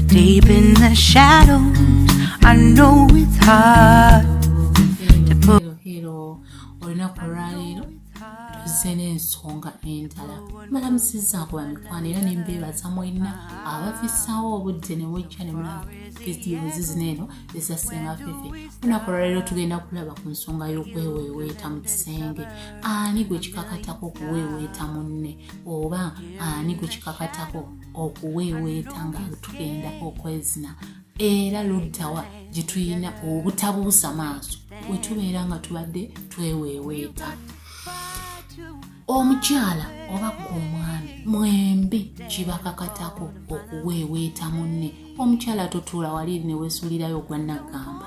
Deep in the shadows, I know it's hard to put. Hello, olunaku olwaleero tuzze n'ensonga endala malamusizaako bamikwano era nembeebaza mwenna abafisaawo obudde ne mujja ne mulaba vidiyozi zino eno ezassenga fefe olunaku olwaleero tugenda kulaba ku nsonga y'okweweeweeta mu kisenge ani gwe kikakatako okuweeweeta munne oba ani ku kikakatako okuweeweeta nga tugenda okwezina era luddawa gye tulina obutabuusa maaso we tubeera nga tubadde tweweeweeta omukyala oba ku omwami mwembi kibakakatako okuweeweeta munne omukyala totuula wali newesulirayo ogwanaggamba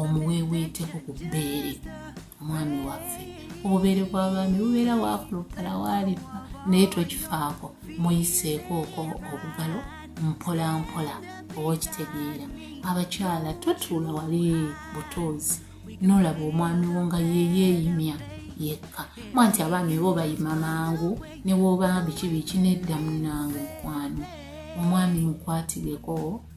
omuweeweeteko ku bbeere omwami waffe obubeere bw'abaami bubeera wakulupala waalifa naye tokifaako muyiseeko oko obugalo mpola mpola oba okitegeera abakyala totuula wali butuuzi nolaba omwami wo nga yeyeeyimya yekka mwa nti abaami bo bayima mangu ne bwoba biki biki nedda munange mukwano omwami mukwatireko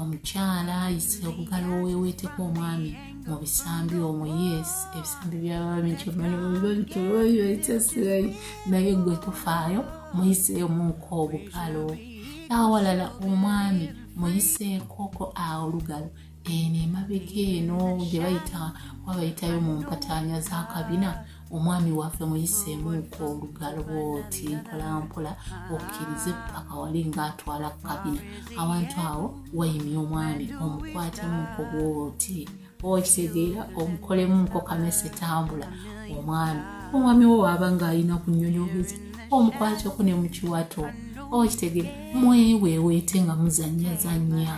omukyala ayise okugala oweweeteko omwami mu bisambi omwo yes ebisambi byababinkyobanibabibabikyobabibaitasirayi naye gwe tofaayo muyiseemuuko obukalo awalala omwami muyiseekoko awo olugalo eno emabega eno gye bayita wabayitayo mu mpataanya z'akabina omwami waffe muyiseemu nko olugalo bwoti mpolampola okkirize paka wali ngaatwala kukabina awantu awo wayimya omwami omukwatemu nko bwoti okitegeera omukolemu nko kamese tambula omwami omwami wo waaba ng'alina ku nyonyobuzi omukwateko ne mukiwato okitegere mweweweete nga muzanyazanya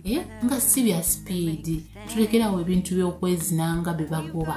eh, nga si bya sipiidi tulekerawo ebintu by'okwezinanga bye bagoba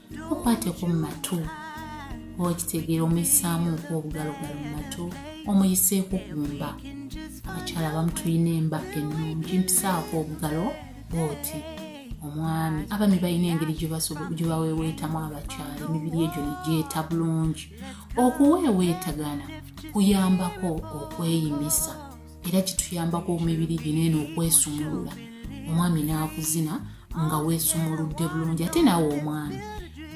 mukwate ku matu oba okitegeera omuyisaamu nku obugalogalo mu matu omuyiseeko ku mba abakyala abamu tulina emba ennungi mpisaako obugalo bwoti omwami abami balina engeri gyebaweweetamu abakyala emibiri egyo negyeta bulungi okuweeweetagana kuyambako okweyimisa era kituyambako omibiri gino eno okwesumulula omwami n'akuzina nga weesumuludde bulungi ate naawe omwami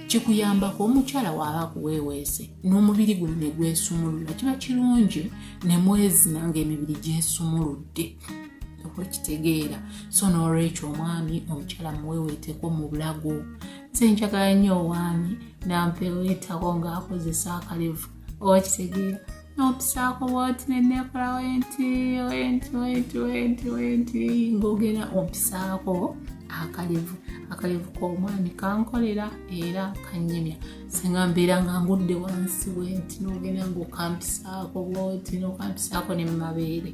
kikuyambako omukyala waaba akuweeweese n'omubiri guno ne gwesumulula kiba kirungi ne mwezina ng'emibiri gyesumuludde okwekitegeera so n'olwekyo omwami omukyala muweeweeteko mu bulago nze njagala nnyo owaami nampeweetako ng'akozesa akalevu oba kitegeera n'obusaako bwoti neneekola wenti wenti wenti wenti wenti ng'ogenda obusaako akalevu akalevu k'omwami kankolera era kanyumya singa mbeera nga ngudde wansi wenti n'ogenda ng'okampisaako bwoti n'okampisaako ne mu mabeere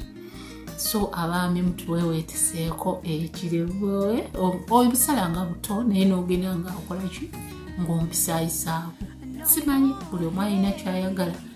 so abaami mutuweweeteseeko ekirevu obusala nga buto naye n'ogenda nga okolaki ng'ompisaayisaako simanyi buli omu alina kyayagala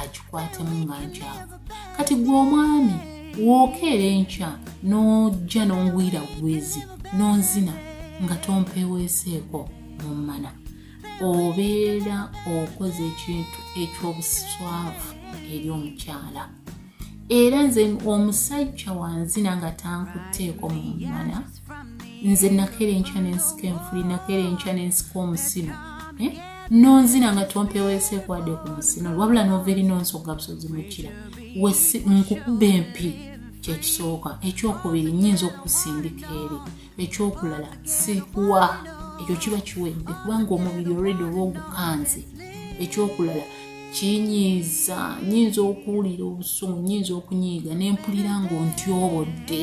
akikwatemu nga nkyafu kati gwe omwami wookeera enkya n'ojja n'ongwira bugwizi n'onzina nga tompeweeseeko mu mmana obeera okoze ekintu eky'obuswavu eri omukyala era nze omusajja wanzina nga tankutteeko mu mmana nze nakera enkya nensika enfuli nakera enkya nensika omusino eh? nonzina nga tompeweesekwade ku musino wabula novaeri nonsoga busozi mukira nkukuba empi kyekisooka ekyokubiri nyinza okusindika eri ekyokulala sikuwa ekyo kiba kiwedde kubanga omubiri olredi oba ogukanze ekyokulala kinyiiza nyinza okuwulira obusungu nyinza okunyiiga nempulira ngaontyobodde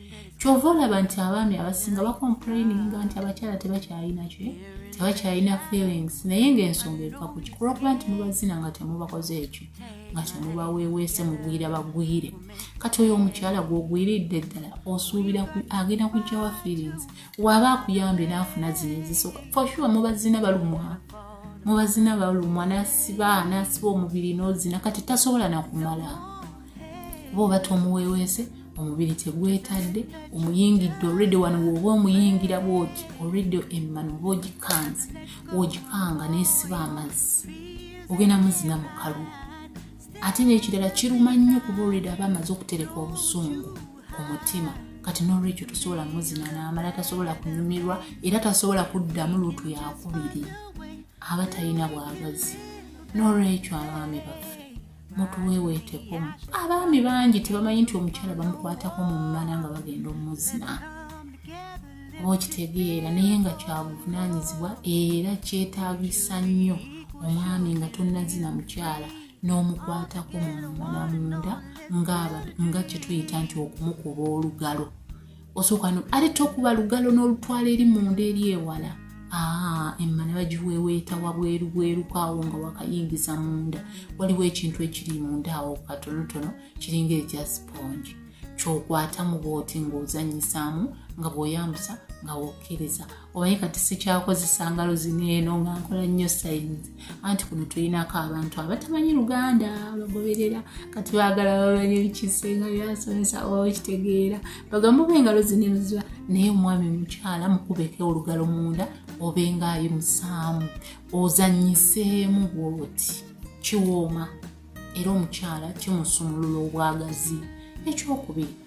kyova olaba nti abaami abasinga bakomplaininga nti abakyala tebakyalina ki tebakyalina feelings naye ngaensonga eva ku kikulwakuba nti mubazina nga temubakoze ekyo nga temubaweeweese mugwira bagwire kati oyo omukyala gwogwiridde ddala osuubira agenda kujjawa feelings waaba akuyambye naafuna zino ezisoka foshuwa mubazina balumwa mubazina balumwa nasiba nasiba omubiri nozina kati tasobola nakumala oba obata omuweweese omubiri tegwetadde omuyingidde olredi wano woba omuyingira bwoki olredi emmano oba ogikanze wogikanga nesiba amazzi ogenda muzina mukalu ate nekirala kiruma nnyo kuba olredi aba amaze okutereka obusungu ku mutima kati nolwekyo tosobola muzina namala tasobola kunyumirwa era tasobola kuddamu luutu yakubiri aba talina bwagazi nolwekyo abaami baffe mutuweweeteko abaami bangi tebamanyi nti omukyala bamukwatako mu mmala nga bagenda omuzina oba okitegeera naye nga kyabuvunaanyizibwa era kyetaagisa nnyo omwami nga tonnazina mukyala n'omukwatako mu mmala munda nga kyetuyita nti okumukuba olugalo osooka no ate tokuba lugalo n'olutwala eri munda eri ewala ah, emma ne bagiweeweeta wabweru bwerukaawo nga wakayingiza munda waliwo ekintu ekiri munda awo katonotono kiringa ekya sipongi kyokwata mu booti ng'ozanyisaamu nga bw'oyambusa nga wokkiriza omanyi kati sikyakozesa ngalo zino eno nga nkola nnyo sayini anti kuno tulinako abantu abatamanyi luganda bagoberera kati bagala bamanye bikisenga byasomesa oba okitegeera bagamuba engalo zino eno ziba naye omwami mukyala mukubeko olugalo munda oba engaayi musaamu ozanyiseemu bwoti kiwooma era omukyala kimusumulula obwagazi ekyokubiri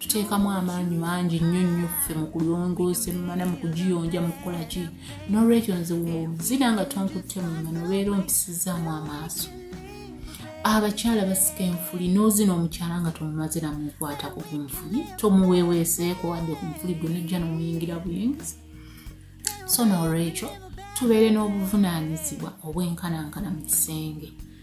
tuteekamu amaanyi mangi nnyo nnyo ffe mu kulongoosa emmana mu kugiyonja mu kukola ki n'olwekyo nze wozira nga tonkutte mu mmana obeera ompisizaamu amaaso abakyala basika enfuli n'ozina omukyala nga tomumazira mu nkwatako ku nfuli tomuweeweeseeko wadde ku nfuli gwe nojja nomuyingira buyingizi so n'olwekyo tubeere n'obuvunaanyizibwa obwenkanankana mu kisenge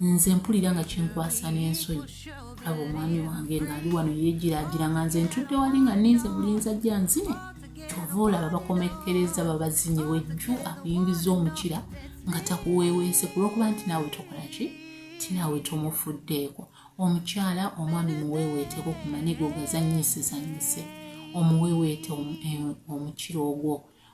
nze mpulira nga kinkwasa n'ensonyi aba omwami wange ng'ali wano yeegiraagira nga nze ntudde wali nga ninze bulinza jja nzine kyova olaba bakomekkereza babazinye wejju akuyingiza omukira nga takuweeweese ku lw'okuba nti naawe tokola ki ti naawe tomufuddeeko omukyala omwami muweeweeteeko ku manigo gazannyisizannyise omuweeweete eh, omukira ogwo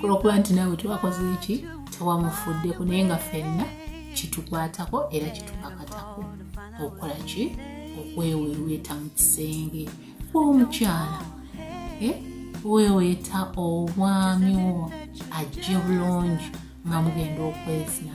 kulwokuba nti naawe tewakoze eki tewamufuddeko naye nga fenna kitukwatako era kitupakatako okukola ki okweweweeta mu kisenge kwomukyala eh? weweeta obwami wo ajje bulungi nga mugenda okwezina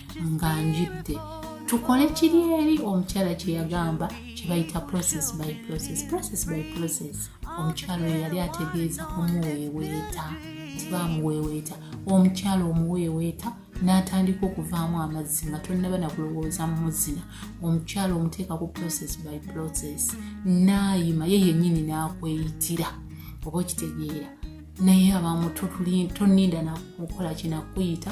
nga njidde tukole kiri eri omukyala kye yagamba kye bayita process by process process by process omukyala oyo yali ategeeza omuweeweeta tibamuweeweeta omukyala omuweeweeta n'atandika okuvaamu amazzi nga tonnaba na kulowooza mumuzina omukyala omuteeka ku process by process naayima ye yennyini n'akweyitira oba okitegeera naye abamu toninda nakukola kinakuyita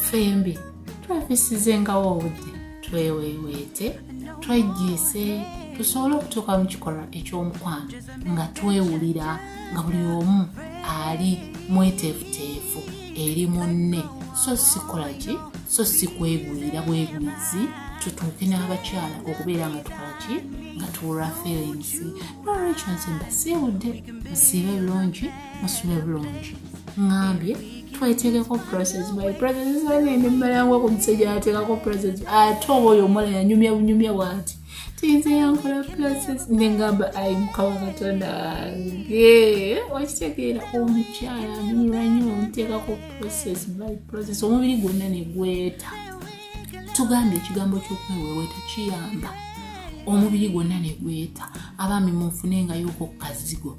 ffembi twefisizengawo obudde tweweweete twejjiise tusobole okutuuka mu kikolwa eky'omukwano nga twewulira nga buli omu ali mweteefuteefu eri munne so sikola ki so si kwegwira bwegwizi tutuuke n'abakyala okubeera nga tukola ki nga tuwulwa feelinsi nolwekyo nze mbasiibudde musiibe birungi musule bulungi ŋambye tweteekeko process my process zanende mmalangwa ku musajja ateekako process ate oba oyo omwana yanyumya bunyumya bwati tiyinza yankola process nengamba ayi mukama katonda wange okitegeera omukyala anyumirwa nyo omuteekako process by process omubiri gwonna negweta tugambye ekigambo kyokweweweeta kiyamba omubiri gwonna negweta abaami munfune nga yokokukazigo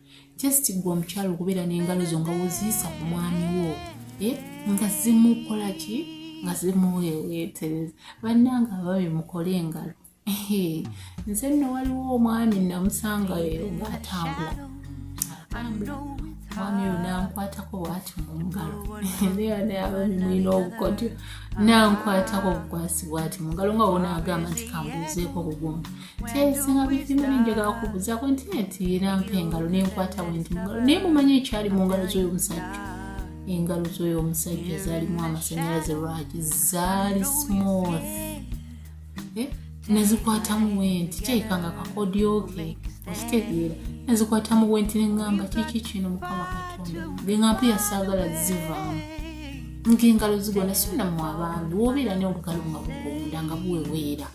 just gwe omukyalo okubeera n'engalo zo nga woziyisa ku mwami wo eh, nga zimukola ki nga zimuwewetereza bannanga ababi mukole engalo nze nno waliwo omwami namusangayo ngaatambula omwami oyo nankwatako bwati mu ngalo nayababi mulina obukodyo nankwatako obukwasi bwati mu ngalo nga wona agamba nti kambuuzeeko obugumba kyesinga bizibu binjagala kubuzaako nti nti era mpa engalo nenkwata wendi mungalo naye mumanyi ekyali mu ngalo z'oyo omusajja engalo z'oyo omusajja zaalimu amasanyalaze lwaki zaali smooth eh? nezikwatamu wenti kyeyika nga kakodyoke okitegeera nezikwatamu wenti neŋŋamba kiki kino mukama katonda ngeŋampu yasaagala zivaamu ng'engalo zigona sinamu abaami wobeera ne obugalo nga bugonda nga buweweera